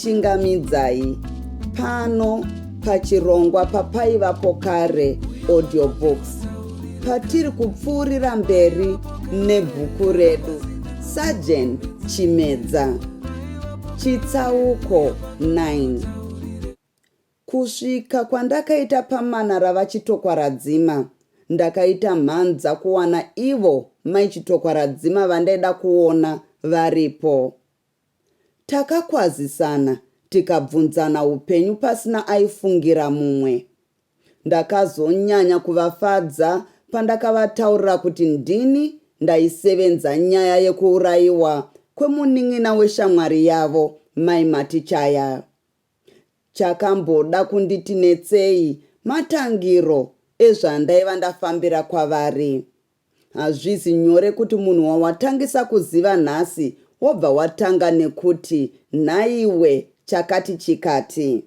chingamidzai pano pachirongwa papaivapo kare audiobooks patiri kupfuurira mberi nebhuku redu sergeant chimedza Chitsauko 9 Kusvika kwandakaita pamana rava Chitokwaradzima, ndakaita mhanza kuwana ivo mai Chitokwaradzima vandaida kuona varipo. Takakwazisana tikabvunzana upenyu pasina aifungira mumwe. Ndakazonyanya kuvafadza pandakavataurira kuti ndini ndaisevenza nyaya yekuurayiwa kwemunin'ina weshamwari yavo, Mai Matichaya. Chakamboda kunditi netsei matangiro ezvandaiva ndafambira kwavari. Hazvizi nyore kuti munhu wawatangisa kuziva nhasi wobva watanga nekuti nhaiwe chakati chikati.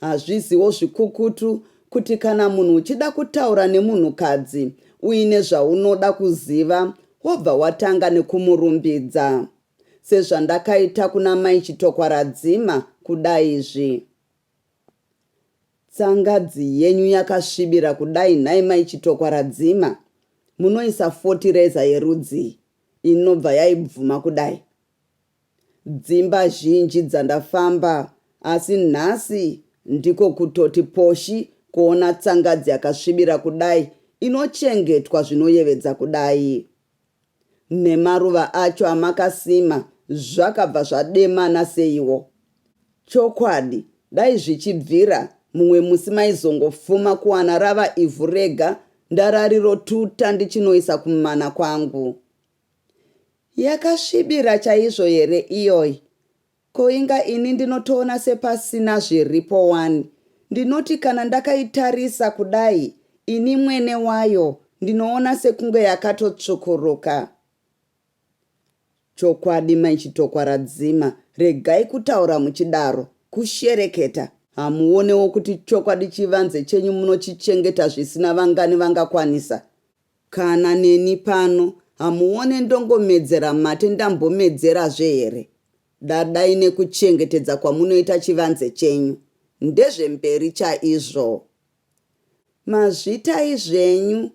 Hazviziwo zvikukutu kuti kana munhu uchida kutaura nemunhukadzi uine zvaunoda kuziva wobva watanga nekumurumbidza. Sezvandakaita kuna mai Chitokwaradzima kudaizvi. Tsangadzi yenyu yakasvibira kudai nhai mai Chitokwaradzima? Munoisa fotireza yerudzii inobva yaibvuma kudai? Dzimba zhinji dzandafamba asi nhasi ndiko kutoti poshi kuona tsangadzi yakasvibira kudai inochengetwa zvinoyevedza kudai. Nemaruva acho amakasima zvakabva zvademana seiwo. Chokwadi dai zvichibvira mumwe musi maizongofuma kuwana rava ivhu rega ndararirotuta ndichinoisa kumana kwangu. Yakasvibira chaizvo here iyoyi? Ko inga ini ndinotoona sepasina zviripo wani. Ndinoti kana ndakaitarisa kudai ini mwene wayo ndinoona sekunge yakatotsvukuruka. Chokwadi mai Chitokwa radzima, regai kutaura muchidaro, kushereketa. Hamuonewo kuti chokwadi chivanze chenyu munochichengeta zvisina vangani vangakwanisa? Kana neni pano hamuone ndongomedzera mate ndambomedzerazve here? Dadai nekuchengetedza kwamunoita chivanze chenyu. Ndezvemberi chaizvo. Mazvitai zvenyu.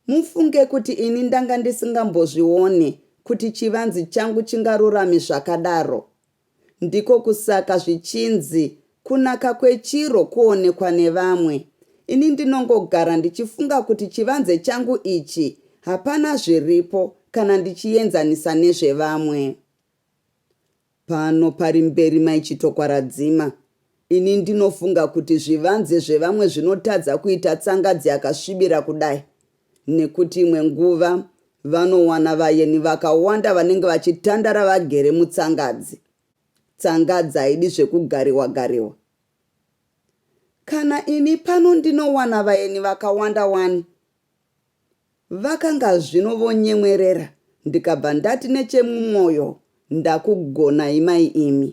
Mufunge kuti ini ndanga ndisingambozvione kuti chivanzi changu chingarurame zvakadaro. Ndiko kusaka zvichinzi kunaka kwechiro kuonekwa nevamwe. Ini ndinongogara ndichifunga kuti chivanze changu ichi hapana zviripo kana ndichienzanisa nezvevamwe. Pano pari mberi mai Chitokwaradzima Ini ndinofunga kuti zvivanze zvevamwe zvinotadza kuita tsangadzi yakasvibira kudai nekuti imwe nguva vanowana vayeni vakawanda vanenge vachitandara vagere mutsangadzi. Tsangadzi haidi zvekugariwa gariwa. Kana ini pano ndinowana vayeni vakawanda wani. Vakanga zvino vonyemwerera ndikabva ndati nechemumwoyo, ndakugonai mai imi.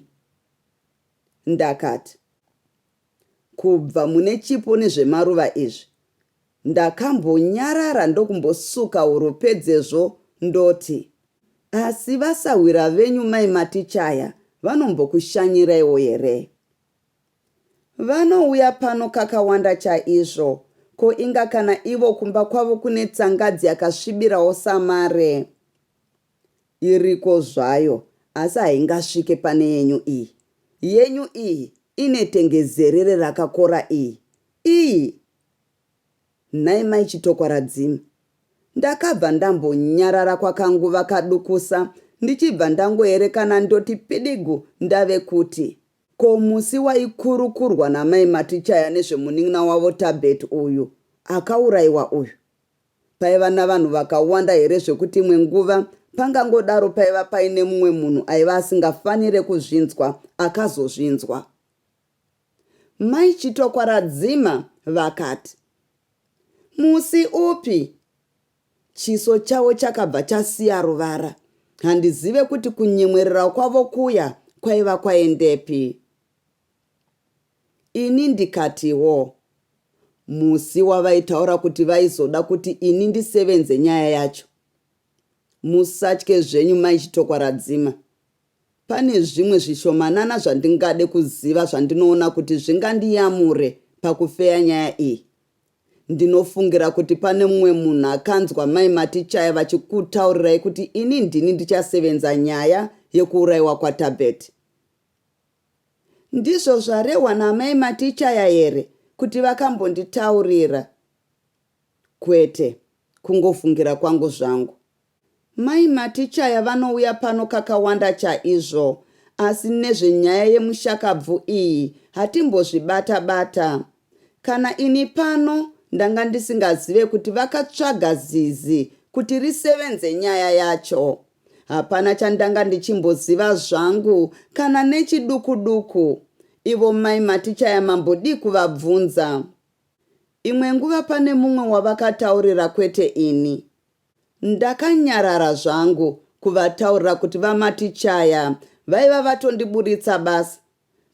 Ndakati, Kubva mune chipo nezvemaruva izvi, ndakambonyarara ndokumbosuka huro pedzezvo ndoti, Asi vasahwira venyu mai Matichaya vanombokushanyiraiwo here? Vanouya pano kakawanda chaizvo, ko inga kana ivo kumba kwavo kune tsangadzi yakasvibirawo samare. Iriko zvayo asi haingasvike pane yenyu iyi. Yenyu iyi ine tengezerere rakakora iyi. Iyii! Nhai mai Chitokwaradzima. Ndakabva ndambonyarara kwakanguva kadukusa ndichibva ndangoerekana ndoti pidigu ndave kuti. Ko musi waikurukurwa namai Matichaya nezvemunin'ina wavo Thabet uyu akauraiwa uyu? Paiva navanhu vakawanda here zvekuti imwe nguva pangangodaro paiva paine mumwe munhu aiva asingafanire kuzvinzwa akazozvinzwa? Mai Chitokwaradzima vakati, Musi upi? Chiso chavo chakabva chasiya ruvara. Handizive kuti kunyemwerera kwavo kuya kwaiva kwaendepi. Ini ndikatiwo, Musi wavaitaura kuti vaizoda kuti ini ndisevenze nyaya yacho. Musatye zvenyu mai Chitokwaradzima. Pane zvimwe zvishomanana zvandingade kuziva zvandinoona kuti zvingandiyamure pakufeya nyaya iyi. Ndinofungira kuti pane mumwe munhu akanzwa mai Matichaya vachikutaurirai kuti ini ndini ndichasevenza nyaya yekuurayiwa kwaTabet. Ndizvo zvarehwa naamai Matichaya here kuti vakambonditaurira? Kwete, kungofungira kwangu zvangu. Mai Matichaya vanouya pano kakawanda chaizvo asi nezvenyaya yemushakabvu iyi hatimbozvibata bata. Kana ini pano ndanga ndisingazive kuti vakatsvaga zizi kuti risevenze nyaya yacho. Hapana chandanga ndichimboziva zvangu kana nechiduku duku. Ivo mai Matichaya mambodii kuvabvunza. Imwe nguva pane mumwe wavakataurira kwete ini. Ndakanyarara zvangu kuvataurira kuti vaMatichaya vaiva vatondiburitsa basa.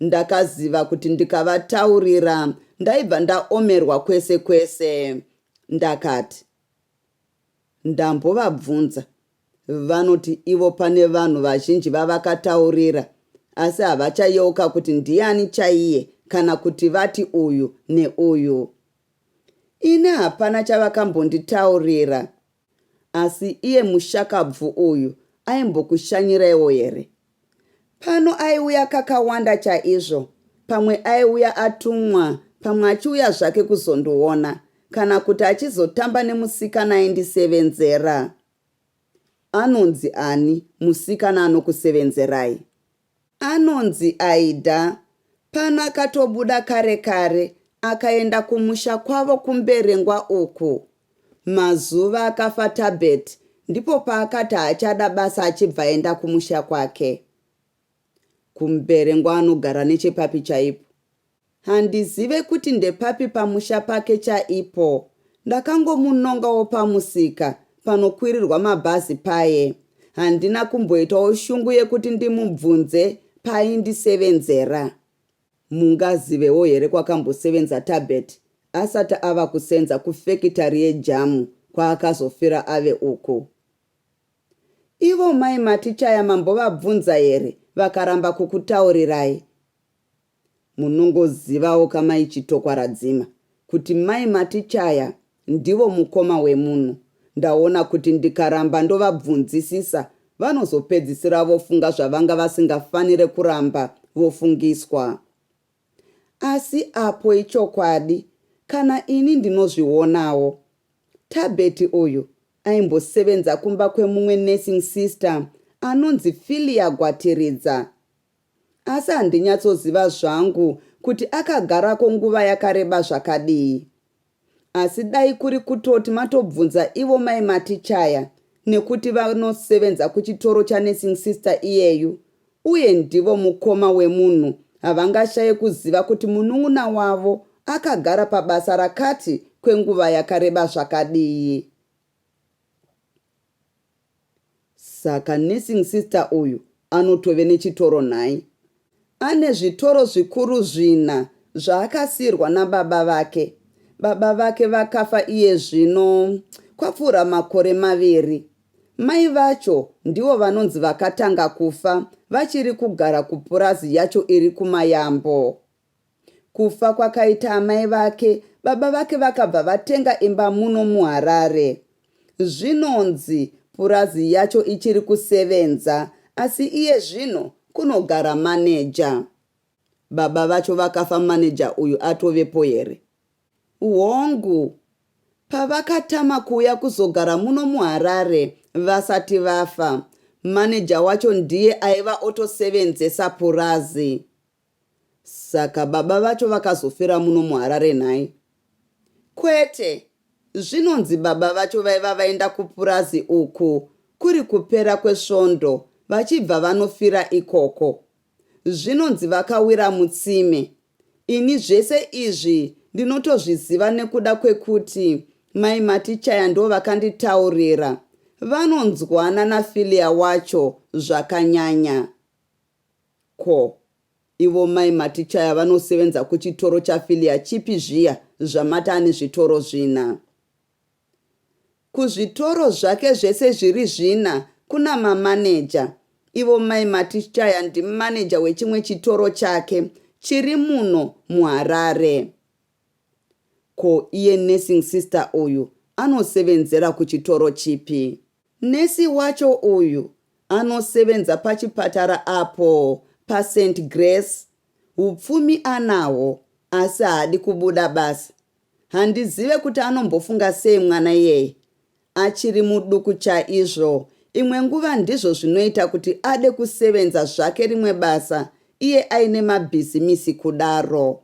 Ndakaziva kuti ndikavataurira ndaibva ndaomerwa kwese kwese. Ndakati. Ndambovabvunza vanoti ivo pane vanhu vazhinji vavakataurira asi havachayeuka kuti ndiani chaiye kana kuti vati uyu neuyu. Ini hapana chavakambonditaurira. Asi iye mushakabvu uyu aimbokushanyiraiwo here? Pano aiuya kakawanda chaizvo, pamwe aiuya atumwa, pamwe achiuya zvake kuzondiona, kana kuti achizotamba nemusikana aindisevenzera. Anonzi ani musikana anokusevenzerai? Anonzi Aida. Pano akatobuda kare kare akaenda kumusha kwavo kuMberengwa uku. Mazuva akafa Thabet ndipo paakati haachada basa achibva aenda kumusha kwake. KuMberengwa anogara nechepapi chaipo? Handizive kuti ndepapi pamusha pake chaipo. Ndakangomunongawo pamusika panokwirirwa mabhazi paye. Handina kumboitawo shungu yekuti ndimubvunze paaindisevenzera. Mungazivewo here kwakambosevenza Tabet asati ava kusenza kufekitari yejamu kwaakazofira ave uku? Ivo mai Matichaya mambovabvunza here vakaramba kukutaurirai? Munongozivawo ka mai Chitokwaradzima kuti mai Matichaya Ndivo mukoma wemunhu. Ndaona kuti ndikaramba ndovabvunzisisa vanozopedzisira vofunga zvavanga vasingafanire kuramba vofungiswa. Asi apo ichokwadi kana ini ndinozvionawo. Thabet uyu aimbosevenza kumba kwemumwe nursing sister anonzi Philia Gwatiridza. Asi handinyatsoziva zvangu kuti akagarako nguva yakareba zvakadii. Asi dai kuri kutoti matobvunza ivo mai Matichaya nekuti vanosevenza kuchitoro chanursing sister iyeyu uye ndivo mukoma wemunhu havangashaye kuziva kuti munun'una wavo akagara pabasa rakati kwenguva yakareba zvakadii. Saka nursing sister uyu anotove nechitoro nhai? Ane zvitoro zvikuru zvina zvaakasiirwa nababa vake. Baba vake vakafa iye zvino kwapfuura makore maviri. Mai vacho ndivo vanonzi vakatanga kufa vachiri kugara kupurazi yacho iri kuMayambo. Kufa kwakaita amai vake, baba vake vakabva vatenga imba muno muHarare. Zvinonzi purazi yacho ichiri kusevenza asi iye zvino kunogara maneja. Baba vacho vakafa maneja uyu atovepo here? Hongu. Pavakatama kuuya kuzogara muno muHarare vasati vafa, maneja wacho ndiye aiva otosevenzesa purazi. Saka baba vacho vakazofira muno muHarare nhai? Kwete, zvinonzi baba vacho vaiva vaenda kupurazi uku kuri kupera kwesvondo vachibva vanofira ikoko. Zvinonzi vakawira mutsime. Ini zvese izvi ndinotozviziva nekuda kwekuti mai Matichaya ndovakanditaurira. Vanonzwana naFilia wacho zvakanyanya. Ko ivo mai Matichaya vanosevenza kuchitoro chaFilia chipi zviya zvamati ane zvitoro zvina? Kuzvitoro zvake zvese zviri zvina kuna mamaneja. Ivo mai Matichaya ndimaneja wechimwe chitoro chake chiri muno muHarare. Ko iye nursing sister uyu anosevenzera kuchitoro chipi? Nurse wacho uyu anosevenza pachipatara apo paSaint Grace, hupfumi anahwo asi haadi kubuda basa. Handizive kuti anombofunga sei mwana iyeye, achiri muduku chaizvo, imwe nguva ndizvo zvinoita kuti ade kusevenza zvake rimwe basa iye aine mabhizimisi kudaro.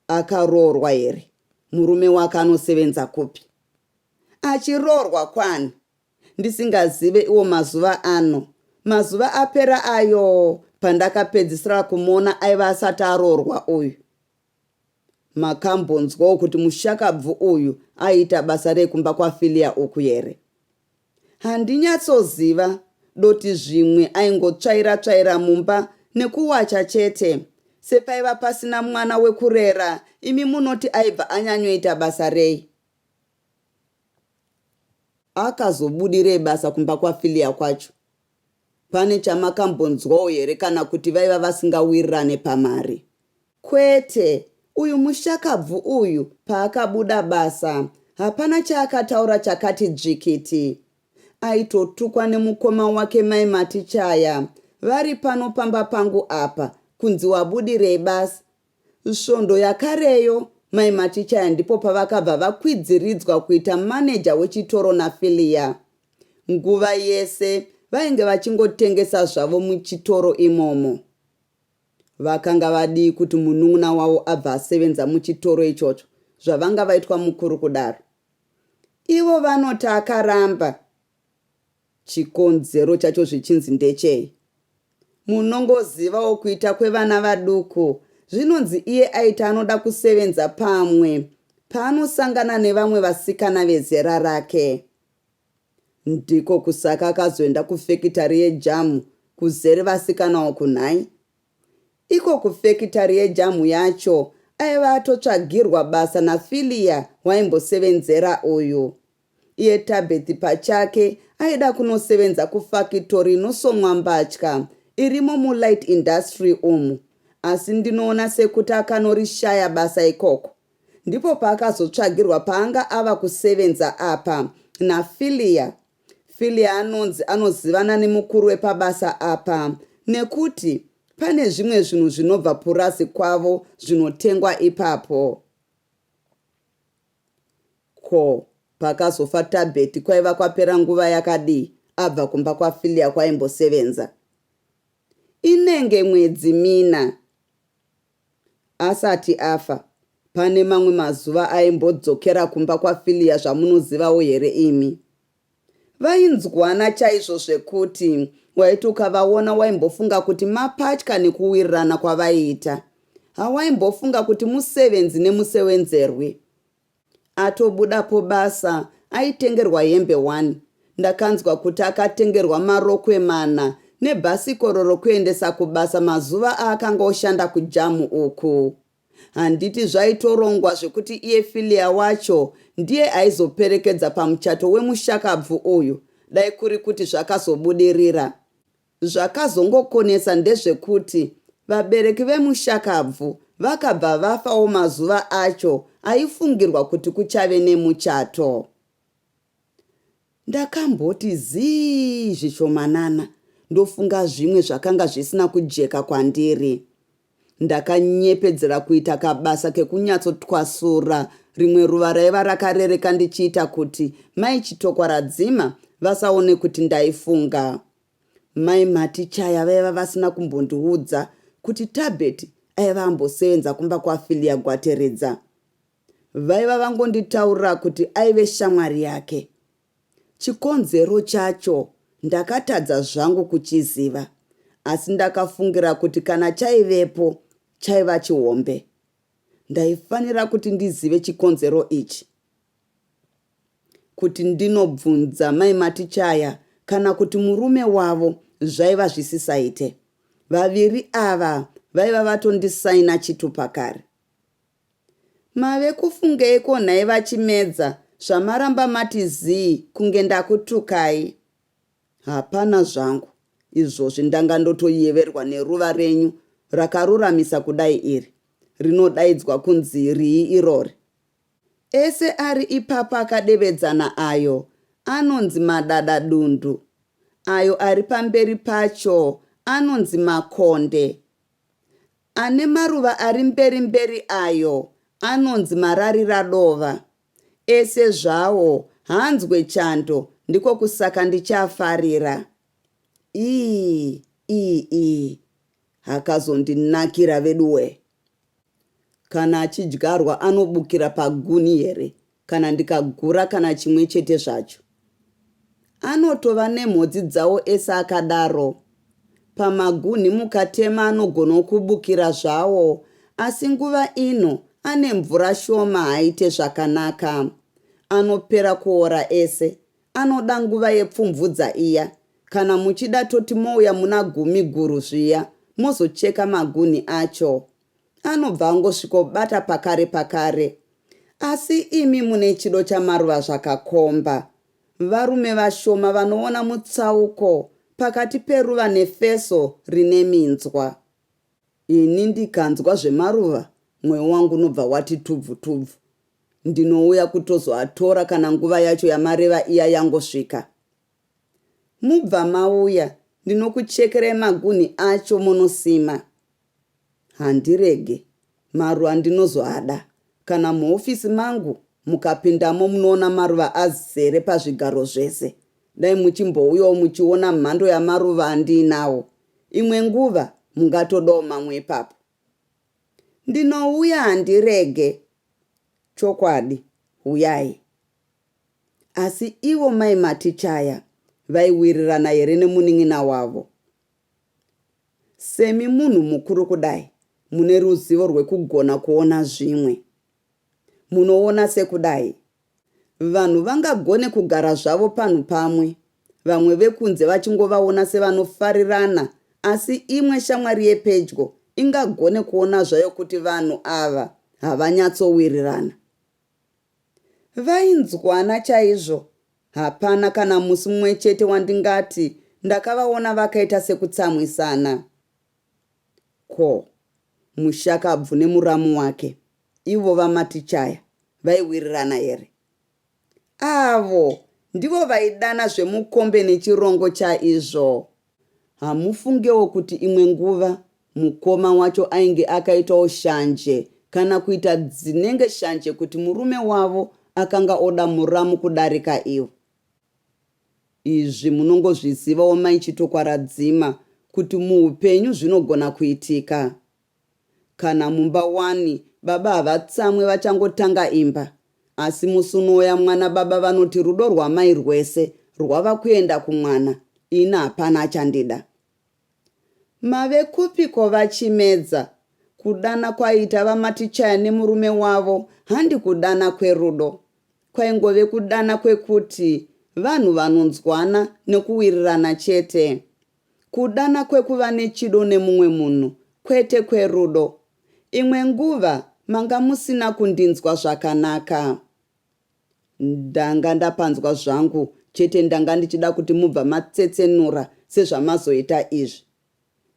Akaroorwa here? Murume wake anosevenza kupi? Achiroorwa kwani? Ndisingazive iwo mazuva ano. Mazuva apera ayo pandakapedzisira kumuona aiva asati aroorwa uyu. Makambonzwawo kuti mushakabvu uyu aiita basa rekumba kwaFilia uku here? Handinyatsoziva doti zvimwe aingotsvaira tsvaira mumba nekuwacha chete sepaiva pasina mwana wekurera imi munoti aibva anyanyoita basa rei? Akazobudirei basa kumba kwaFilia kwacho? Pane chamakambonzwawo here kana kuti vaiva vasingawirirane pamari? Kwete, uyu mushakabvu uyu paakabuda basa hapana chaakataura chakati dzvikiti. Aitotukwa nemukoma wake mai Matichaya vari pano pamba pangu apa kunzi wabudirei basa. Svondo yakareyo mai Matichaya ndipo pavakabva vakwidziridzwa kuita maneja wechitoro naFillia. Nguva yese vainge vachingotengesa zvavo muchitoro imomo. Vakanga vadii kuti munun'una wavo abva asevenza muchitoro ichocho zvavanga vaitwa mukuru kudaro? Ivo vanoti akaramba chikonzero chacho zvichinzi ndechei? Munongozivawo kuita kwevana vaduku zvinonzi iye aiti anoda kusevenza pamwe paanosangana nevamwe vasikana vezera rake. Ndiko kusaka akazoenda kufekitari yejamu kuzere vasikana uku nhai. Iko kufekitari yejamu yacho aiva atotsvagirwa basa naFillia waimbosevenzera uyu. Iye Thabeth pachake aida kunosevenza kufakitori inosonwa mbatya irimo mulight industry umu asi ndinoona sekuti akanorishaya basa ikoko Ndipo paakazotsvagirwa paanga ava kusevenza apa na Fillia. Fillia anonzi anozivana nemukuru wepabasa apa nekuti pane zvimwe zvinhu zvinobva purazi kwavo zvinotengwa ipapo. Ko pakazofa Tabet kwaiva kwapera nguva yakadii abva kumba kwa Fillia kwaimbosevenza? Inenge mwedzi mina. Asati afa, pane mamwe mazuva aimbodzokera kumba kwaFilia zvamunozivawo here imi? Vainzwana chaizvo zvekuti waiti ukavaona waimbofunga kuti mapatya nekuwirirana kwavaiita. Hawaimbofunga kuti musevenzi nemusewenzerwi. Atobuda pobasa aitengerwa hembe one ndakanzwa kuti akatengerwa marokwe mana nebhasikoro rokuendesa kubasa mazuva aakanga oshanda kujamu uku. Handiti zvaitorongwa zvekuti iye Filia wacho ndiye aizoperekedza pamuchato wemushakabvu uyu dai kuri kuti zvakazobudirira. Zvakazongokonesa ndezvekuti vabereki vemushakabvu vakabva vafawo mazuva acho aifungirwa kuti kuchave nemuchato. Ndakamboti zii zvishomanana ndofunga zvimwe zvakanga zvisina kujeka kwandiri. Ndakanyepedzera kuita kabasa kekunyatso twasura rimwe ruva raiva rakarereka ndichiita kuti mai Chitokwaradzima vasaone kuti ndaifunga. Mai Matichaya vaiva vasina kumbondiudza kuti Tabet aiva ambosevenza kumba kwaFilia Gwateredza. Vaiva vangonditaurira kuti aive shamwari yake. Chikonzero chacho ndakatadza zvangu kuchiziva asi ndakafungira kuti kana chaivepo chaiva chihombe. Ndaifanira kuti ndizive chikonzero ichi kuti ndinobvunza mai Matichaya kana kuti murume wavo zvaiva zvisisaite. Vaviri ava vaiva vatondisaina chitupa kare. Mave kufungeiko nhai vaChimedza zvamaramba mati zii kunge ndakutukai? Hapana zvangu izvozvi ndanga ndotoyeverwa neruva renyu rakaruramisa kudai iri. Rinodaidzwa kunzi rii irori? Ese ari ipapo akadevedzana ayo anonzi madadadundu, ayo ari pamberi pacho anonzi makonde, Ane maruva ari mberi mberi ayo anonzi marariradova. Ese zvawo haanzwe chando ndiko kusaka ndichiafarira. Ii ii ii hakazondinakira veduwee. Kana achidyarwa anobukira paguni here kana ndikagura kana chimwe chete zvacho. Anotova nemhodzi dzawo ese akadaro. Pamagunhi mukatema anogono kubukira zvawo asi nguva ino ane mvura shoma haaite zvakanaka. Anopera kuora ese. Anoda nguva yepfumvudza iya. Kana muchida toti mouya muna gumi guru zviya mozocheka magunhi acho. anobva angosvikobata pakare pakare asi imi mune chido chamaruva zvakakomba. Varume vashoma vanoona mutsauko pakati peruva nefeso rine minzwa. Ini ndikanzwa zvemaruva mwoyo wangu unobva wati tubvu tubvu. Ndinouya kutozoatora kana nguva yacho yamareva iya yangosvika. Mubva mauya ndinokuchekerai magunhi acho monosima. Handirege maruva ndinozoada. Kana muhofisi mangu mukapindamo munoona maruva azere pazvigaro zvese. Dai muchimbouyawo muchiona mhando yamaruva andiinawo. Imwe nguva mungatodawo mamwe ipapo. Ndinouya handirege. Chokwadi, huyai. Asi ivo mai Matichaya vaiwirirana here nemunin'ina wavo? Semi munhu mukuru kudai mune ruzivo rwekugona kuona zvimwe. Munoona sekudai. Vanhu vangagone kugara zvavo panhu pamwe vamwe vekunze vachingovaona sevanofarirana asi imwe shamwari yepedyo ingagone kuona zvayo kuti vanhu ava havanyatsowirirana. Vainzwana chaizvo. Hapana kana musi mumwe chete wandingati ndakavaona vakaita sekutsamwisana. Ko. Mushakabvu nemuramu wake, ivo vaMatichaya, vaiwirirana here? Avo ndivo vaidana zvemukombe nechirongo chaizvo. Hamufungewo kuti imwe nguva mukoma wacho ainge akaitawo shanje kana kuita dzinenge shanje kuti murume wavo akanga oda muramu kudarika ivo. Izvi munongozvizivawo mai Chitokwaradzima kuti muupenyu zvinogona kuitika. Kana mumba wani baba havatsamwe vachangotanga imba asi musi unouya mwana baba vanoti rudo rwamai rwese rwava kuenda kumwana ini hapana achandida. Mave kupiko vaChimedza? Kudana kwaiita vaMatichaya nemurume wavo handi kudana kwerudo. Kwaingove kudana kwekuti vanhu vanonzwana nekuwirirana chete. Kudana kwekuva nechido nemumwe munhu kwete kwerudo. Imwe nguva manga musina kundinzwa zvakanaka. Ndanga ndapanzwa zvangu chete ndanga ndichida kuti mubva matsetsenura sezvamazoita izvi.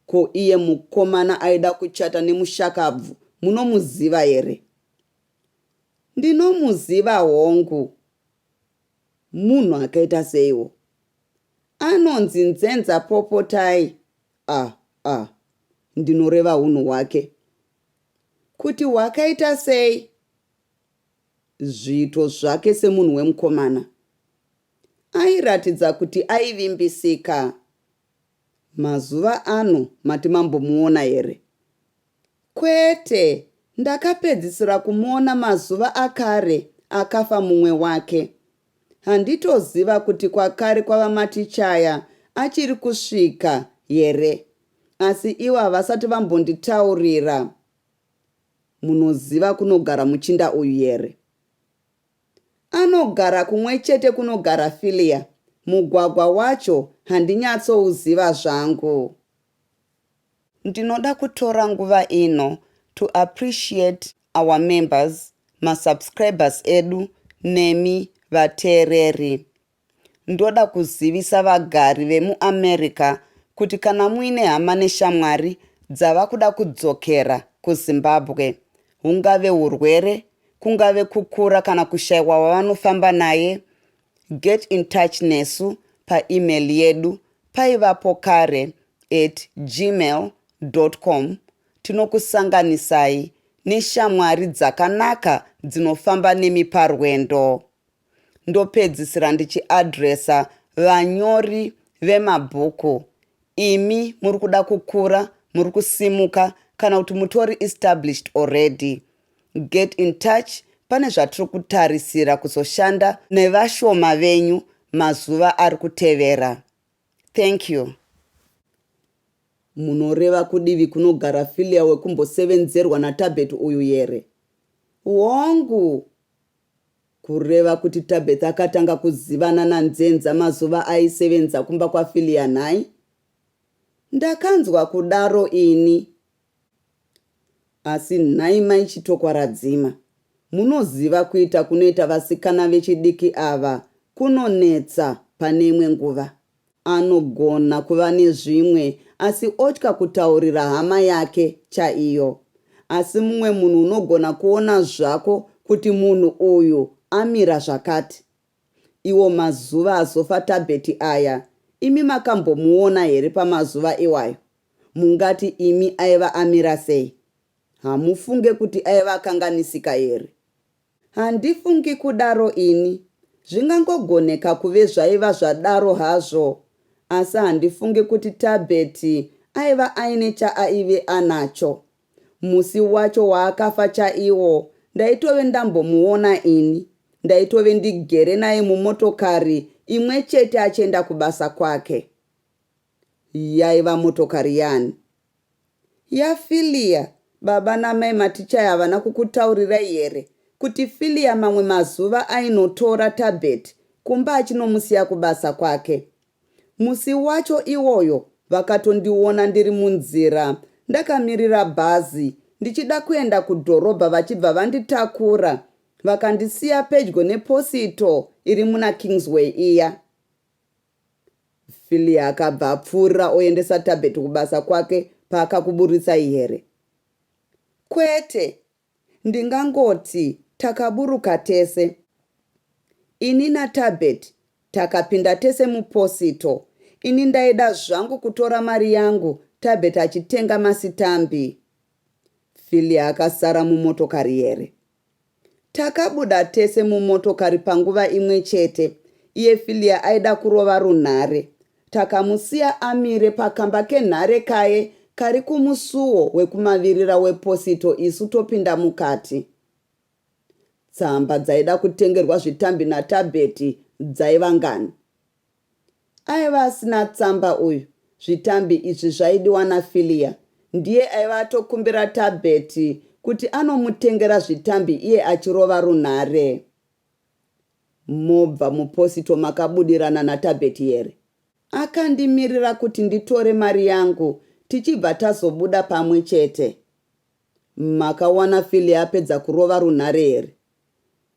Ko iye mukomana aida kuchata nemushakabvu munomuziva here? Ndinomuziva hongu. Munhu akaita seiwo. Anonzi Nzenza Popotai ah ah ndinoreva hunhu hwake. Kuti hwakaita sei? Zviito zvake semunhu wemukomana. Airatidza kuti aivimbisika Mazuva ano mati mambomuona here? Kwete, ndakapedzisira kumuona mazuva akare akafa mumwe wake. Handitoziva kuti kwakare kwaVaMatichaya achiri kusvika here asi ivo havasati vambonditaurira. Munoziva kunogara muchinda uyu here? Anogara kumwe chete kunogara Philia, mugwagwa wacho handinyatsouzziva zvangu. Ndinoda kutora nguva ino to appreciate our members, ma subscribers edu nemi vateereri. Ndoda kuzivisa vagari vemuAmerica kuti kana muine hama neshamwari dzava kuda kudzokera kuZimbabwe, hungave hurwere, kungave kukura kana kushaiwa wavanofamba naye, get in touch nesu paemail yedu paivapo kare at gmail dot com tinokusanganisai neshamwari dzakanaka dzinofamba nemi parwendo. ndopedzisira ndichiadresa vanyori vemabhuku imi muri kuda kukura muri kusimuka kana kuti mutori established already get in touch pane zvatiri kutarisira kuzoshanda nevashoma venyu mazuva ari kutevera thank you munoreva kudivi kunogara filia wekumbosevenzerwa natabet uyu here hongu Kureva kuti Tabeth akatanga kuzivana naNzenza mazuva aisevenza kumba kwaFilia nhai? Ndakanzwa kudaro ini. Asi nhai mai Chitokwaradzima, munoziva kuita kunoita vasikana vechidiki ava kunonetsa pane imwe nguva. Anogona kuva nezvimwe asi otya kutaurira hama yake chaiyo. Asi mumwe munhu unogona kuona zvako kuti munhu uyu amira zvakati. Iwo mazuva azofa Tabhethi aya, imi makambomuona here pamazuva iwayo? Mungati imi aiva amira sei? Hamufunge kuti aiva akanganisika here? Handifungi kudaro ini. Zvingangogoneka kuve zvaiva zvadaro hazvo. Asi handifungi kuti Thabet aiva aine chaaive anacho. Musi wacho waakafa chaiwo ndaitove ndambomuona ini. Ndaitove ndigere naye mumotokari imwe chete achienda kubasa kwake. Yaiva motokari yani? Yaa Philia baba namai Matichai havana kukutaurirai here kuti Philia mamwe mazuva ainotora Tabet kumba achinomusiya kubasa kwake. Musi wacho iwoyo vakatondiona ndiri munzira ndakamirira bhazi ndichida kuenda kudhorobha vachibva vanditakura vakandisiya pedyo neposito iri muna Kingsway iya. Philly akabva apfuurira oendesa Tabet kubasa kwake paakakuburitsai here? Kwete, ndingangoti takaburuka tese. Ini naTabet takapinda tese muposito, ini ndaida zvangu kutora mari yangu Tabet achitenga masitambi. Philly akasara mumotokari here? Takabuda tese mumotokari panguva imwe chete, iye Fillia aida kurova runhare. Takamusiya amire pakamba kenhare kaye kari kumusuwo wekumavirira weposito isu topinda mukati. Tsamba dzaida kutengerwa zvitambi naTabet dzaiva ngani? Aiva asina tsamba uyu zvitambi izvi zvaidiwa naFilia ndiye aiva atokumbira Thabet kuti anomutengera zvitambi iye achirova runhare. Mobva muposito makabudirana naThabet here? Akandimirira kuti nditore mari yangu tichibva tazobuda pamwe chete. Makawana Philly apedza kurova runhare here?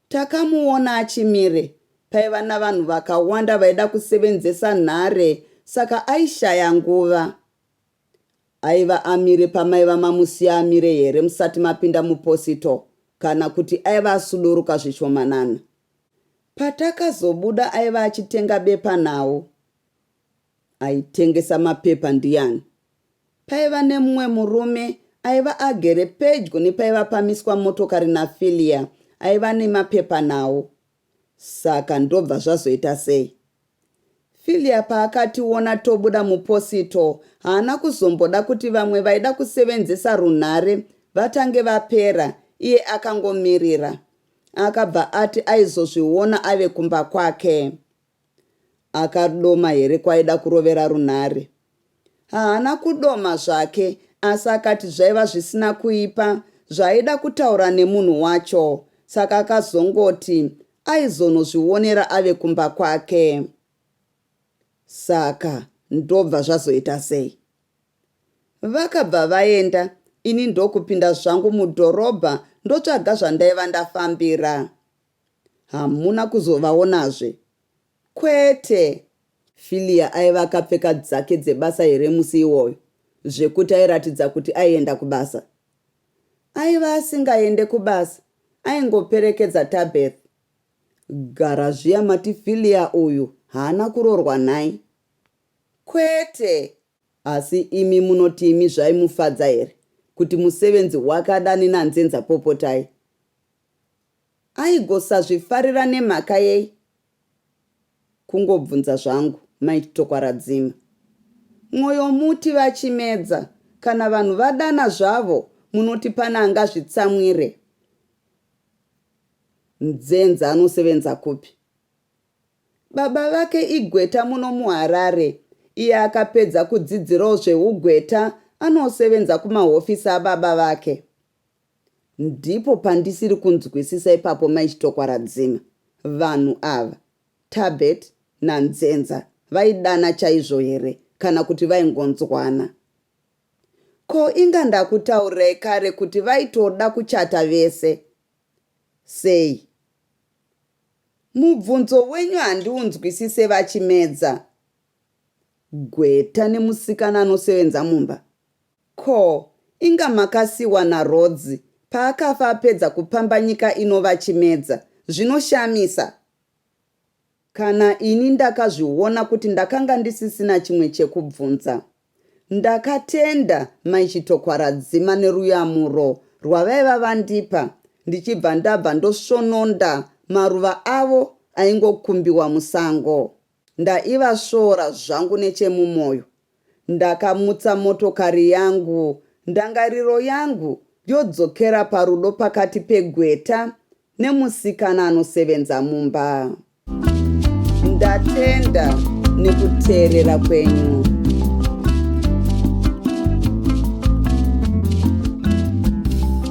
Takamuona achimire paiva navanhu vakawanda vaida kusevenzesa nhare saka aishaya nguva. Aiva amire pamaiva mamusiya amire here musati mapinda muposito kana kuti aiva asuduruka zvishomanana. Patakazobuda aiva achitenga bepanhau. Aitengesa mapepa ndiani? Paiva nemumwe murume aiva agere pedyo nepaiva pamiswa motokari naFilia aiva nemapepa nawo. Saka ndobva zvazoita sei? Filia paakationa tobuda muposito haana kuzomboda kuti vamwe vaida kusevenzesa runhare vatange vapera iye akangomirira. Akabva ati aizozviona ave kumba kwake. Akadoma here kwaaida kurovera runhare? Haana kudoma zvake asi akati zvaiva zvisina kuipa zvaaida kutaura nemunhu wacho saka akazongoti aizonozvionera ave kumba kwake. Saka ndobva zvazoita sei? Vakabva vaenda ini ndokupinda zvangu mudhorobha ndotsvaga zvandaiva ndafambira. Hamuna kuzovaonazve? Kwete! Filia aiva akapfeka dzake dzebasa here musi iwoyo zvekuti airatidza kuti aienda kubasa? Aiva asingaende kubasa, aingoperekedza Tabeth. Gara zviya mati Filia uyu haana kuroorwa nhai? Kwete! Asi imi munoti imi zvaimufadza here kuti musevenzi wake adane nanzenza Popotai? Aigosazvifarira nemhaka yei? Kungobvunza zvangu might tokwaradzima mwoyo muti vachimedza kana vanhu vadana zvavo munoti pane angazvitsamwire Mdzenza anosevenza kupi? Baba vake igweta muno muHarare iye akapedza kudzidzirawo zvehugweta anosevenza kumahofisi ababa vake. Ndipo pandisiri kunzwisisa ipapo mai Chitokwa Radzima. Vanhu ava, Tabet naNzenza vaidana chaizvo here kana kuti vaingonzwana. Ko inga ndakutaurirai kare kuti vaitoda kuchata vese. Sei? Mubvunzo wenyu handiunzwisise VaChimedza. Gweta nemusikana anosevenza mumba Ko inga makasiwa na Rhodes paakafa apedza kupamba nyika ino vachimedza zvinoshamisa Kana ini ndakazviona kuti ndakanga ndisisina chimwe chekubvunza Ndakatenda mai Chitokwaradzima neruyamuro rwavaiva vandipa ndichibva ndabva ndosvononda maruva avo aingokumbiwa musango Ndaivasvora zvangu nechemumoyo. Ndakamutsa motokari yangu ndangariro yangu yodzokera parudo pakati pegweta nemusikana anosevenza mumba. Ndatenda nekuteerera kwenyu.